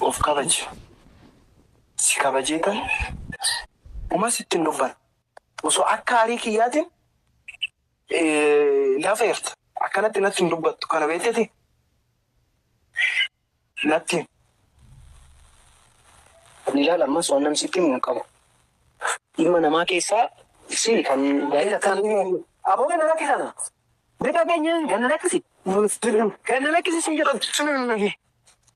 Of kabaji. Si kabajee tan uma sitti hin dubbanne. Osoo akka arii kiyyaatiin na feerte akkanatti natti hin dubbattu kana beeteti natti himi. Ani ilaala ammas waan namni sitti himu hin qabu. Ilma namaa keessaa si kan gaa'ela kan Aboo ganna lakki kana. Bita keenya ganna lakkisi. Gad na lakkisi siin jedhan.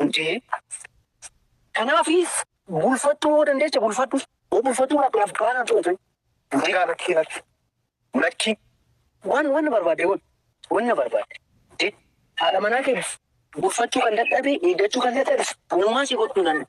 jedhee. Kanaafi bulfattuu yoo dandeecha bulfadhu. Yoo bulfattuu baatte naaf duraa naan coote. Durii kaa lakkii lakki. Lakki. Waan wanna barbaadde godhi. Wanna barbaadde. Jedhi. Haadha manaa kee bulfachuu kan dadhabe eeggachuu kan dadhabes anumaa si gochuu danda'a.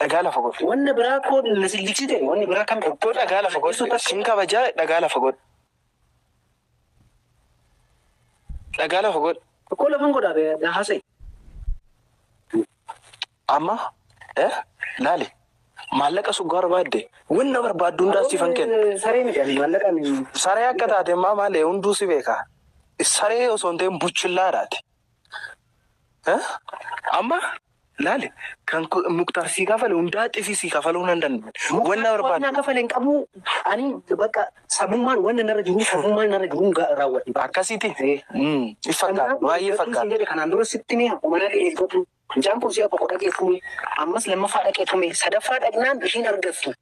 dhagaa lafa godhu. Wanna biraa koo na silliksite wanni biraa kam Obboo dhagaa lafa godhu sin kabaja dhagaa lafa godhu. Dhagaa lafa godhu. Obboo lafan godhaa be na haasa'e. Amma eh laali maallaqa suggaa barbaadde wanna barbaaddu hundaa siifan kenna. Saree miti ani maallaqaan Saree akka taate immaa maalee hunduu si beeka. Saree osoo hin ta'in buchillaadhaati. Eh? Amma Laali kan muktar sii kafale hundaa xisi sii kafaluu nan danda'u wanna barbaadu. Muktar naa kafale hin qabu ani bakka sabummaan wanna narra jiruu sabummaan narra jiruu raawwadhe. Akkasiti si fakkaata baay'ee fakkaata. Kanaan jedhe kanaan dura sitti mee akkuma na dhaqee tume mucaan kun si'a tokko dhaqee tume ammas lammaffaa dhaqee tume sadaffaa dhaqnaan ishiin argattu.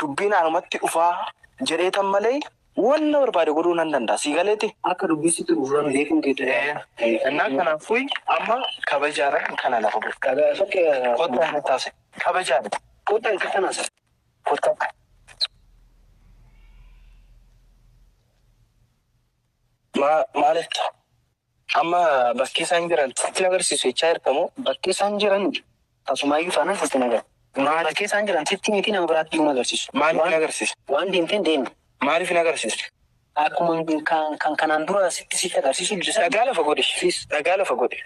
dubbiin anumatti dhufaa jedheetan malee waan na barbaade godhuu nan danda'a sii galeeti. Akka dubbii sitti dhufu sana beekuun kee ta'eera. Innaa kanaafuu amma kabajaadhaan kana lafa godhi. Kabaja tokko Kottaa natti haasa'e. Kabajaadhaan. kottaa isa kanas Kottaa. Ma- Maal jetta? Amma bakkee isaan jiran sitti hin agarsiisu jechaa jirta moo? Bakkee isaan jiran tasumaayyuu taanaan sitti hin agarsiisu. Maaliif? Bakkee isaan jiran sitti miti nama biraatti iyyuu hin agarsiisu. Maaliif hin agarsiisu? Waan deemteen deemi. Maaliif hin agarsiisu? Akkuma kan kanaan dura sitti sitti agarsiisu dide sana. Dhagaa lafa godhi please dhagaa lafa godhi.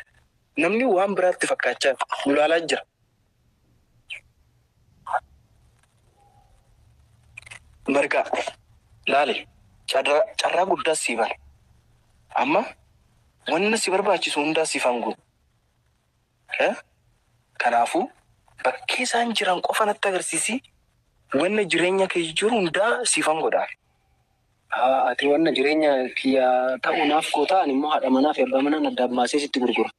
Namni waan biraatti fakkaachaa nu ilaalaa jira. Margaa laale carraa carraa guddaas sii bane. Amma wanna si barbaachisu hundaa siif hanguu. Eh? Kanaafuu bakkee isaan jiran qofa natti agarsiisii wanna jireenya kee jijjiiru hundaa siif hangodhaa. Haa ati wanna jireenya kiyya ta'u naaf gootaa ani immoo haadha manaa fi abbaa manaan addaan baasee sitti gurgura.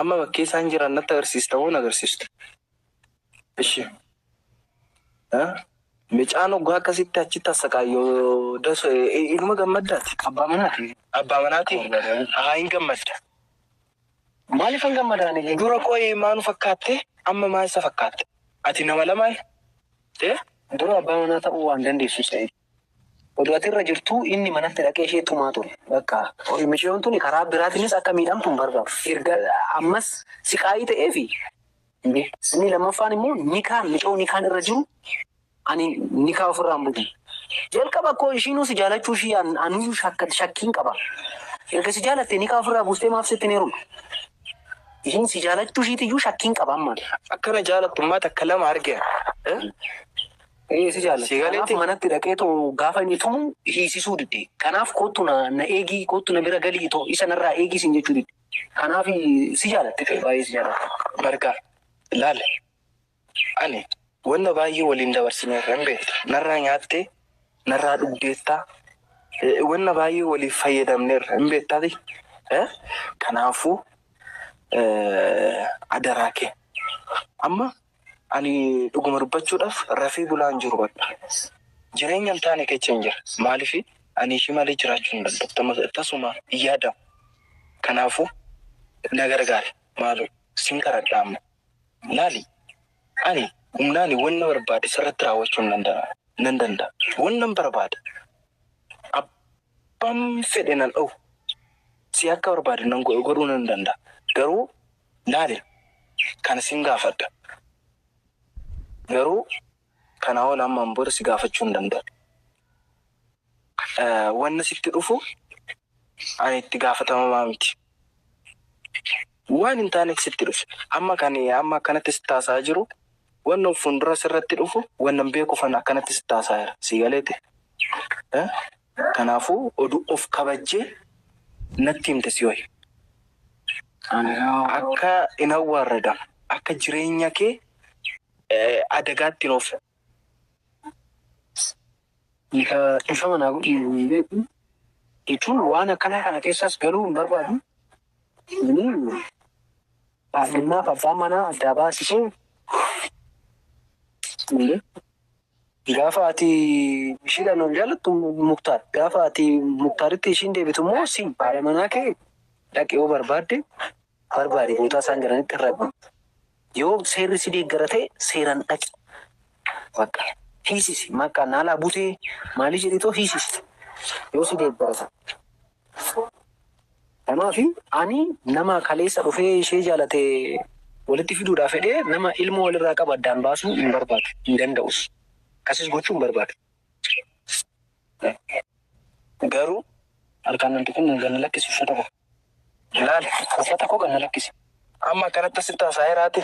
Amma bakkee isaan jiran natti agarsiista moo nagarsiistu? Ishi. Micaan oggaa akkasitti achitti assaqaayyo daso inuma gammaddaati. Abbaa manaati. Abbaa manaati. Haa hin gammadda. Maaliif hin gammadaan? Dura qo'ee maa nu fakkaatte? Amma maa isa fakkaatte? Ati nama lamaa? Dura abbaa manaa ta'uu waan dandeessu se'e. Odoo ati irra jirtuu inni manatti dhaqee ishee tumaa ture. Bakka miciyoon tuni karaa biraatinis akka miidhamtu hin barbaadu. Erga ammas siqaayii ta'eefi inni inni lammaffaan immoo nikaan micoo nikaan irra jiru ani nikaa ofirraa hin butu. Jalqaba akkoo ishiinuu si jaalachuu ishii an- anuyyuu shakka- shakkiin qaba. Erga si jaalatte nikaa ofirraa buustee maaf sitti hin heerumne? Ishiin si jaalachuu ishiitiyyuu shakkiin qaba amma. Akkana jaalattummaa takka lama argeera. Eh? Ee si jaalatti. Si galeetti? Kanaaf manatti dhaqee too gaafa inni tumu hiisisuu didde. Kanaaf koottu na na eegii koottu na bira galii too isa narraa eegii siin jechuu didde. Kanaaf si jaalatti ta'e baay'ee si jaalatti. Margaa, laal ani wanna baay'ee waliin dabarsineerra hin beekta. Narraa nyaattee, narraa dhugdeetta, eh, wanna baay'ee waliif fayyadamneerra hin beektaati. Eh, Kanaafuu eh, adaraa kee amma Ani dhuguma dubbachuudhaf rafee bulaa hin jiru bakka. Jireenya hin taane kechan jira. Maalif ani ishii malee jiraachuu hin danda'u. Tasuma hin yaadamu. Kanaafu na gargaari maaloo sin kadhadha amma. Laali ani humnaani wanna barbaade sirratti raawwachuu nan danda'a. Wannan barbaade abbaan fedhe nan dhowu. Si akka barbaade godhuu nan danda'a. Garuu. Laale kana sin gaafadha garuu kanaa ol ammaan booda si gaafachuu hin danda'u. Wanna sitti dhufu ani itti gaafatamamaa miti. Waan hin taanetu sitti dhufe. Amma kan amma akkanatti sitti haasa'aa jiru wanna of fuuldura sirratti dhufu wannan beekuufan akkanatti sitti haasa'aa jira. Sii galeeti? Kanaafu odu of kabajje natti himte sihoy. Akka hin awwaarradam akka jireenya ke adagaatti hin oofne. Nika dhifama naa godhi hin beeku jechuun waan akkanaa kana kessas galuu hin barbaadu ani haadhummaaf abbaa manaa addaa baasisee hin beeku. Gaafa ati ishiidhaan wal jaallattu muktaar gaafa ati muktaaritti ishiin deebitu immoo si haadha manaa kee dhaqi yoo barbaadde barbaadi bootaa isaan jiranitti irra yoo seerri si deeggara ta'e seeran dhaqi bakka hiisisi maqaa naalaa butee maalii jedhitoo hiisisi yoo si deeggara ta'e. Kanaafi ani nama kaleessa dhufee ishee jaalate walitti fiduudhaaf fedhee nama ilmoo walirraa qabu addaan baasuu hin barbaadu, hin danda'us. Akkasis gochuu hin barbaadu. Garuu harkaan nan tuqin gad na lakkisi uffata koo. Ilaali uffata koo gad na lakkisi. Amma akkanatti asitti haasa'aa jiraate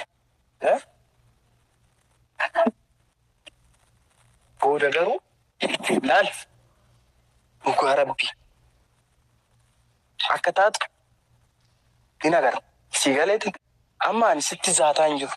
Booda garuu laal dhugaa rabbii akka taatu hin agarra sii galeeti amma ani sitti zaataa hin jiru.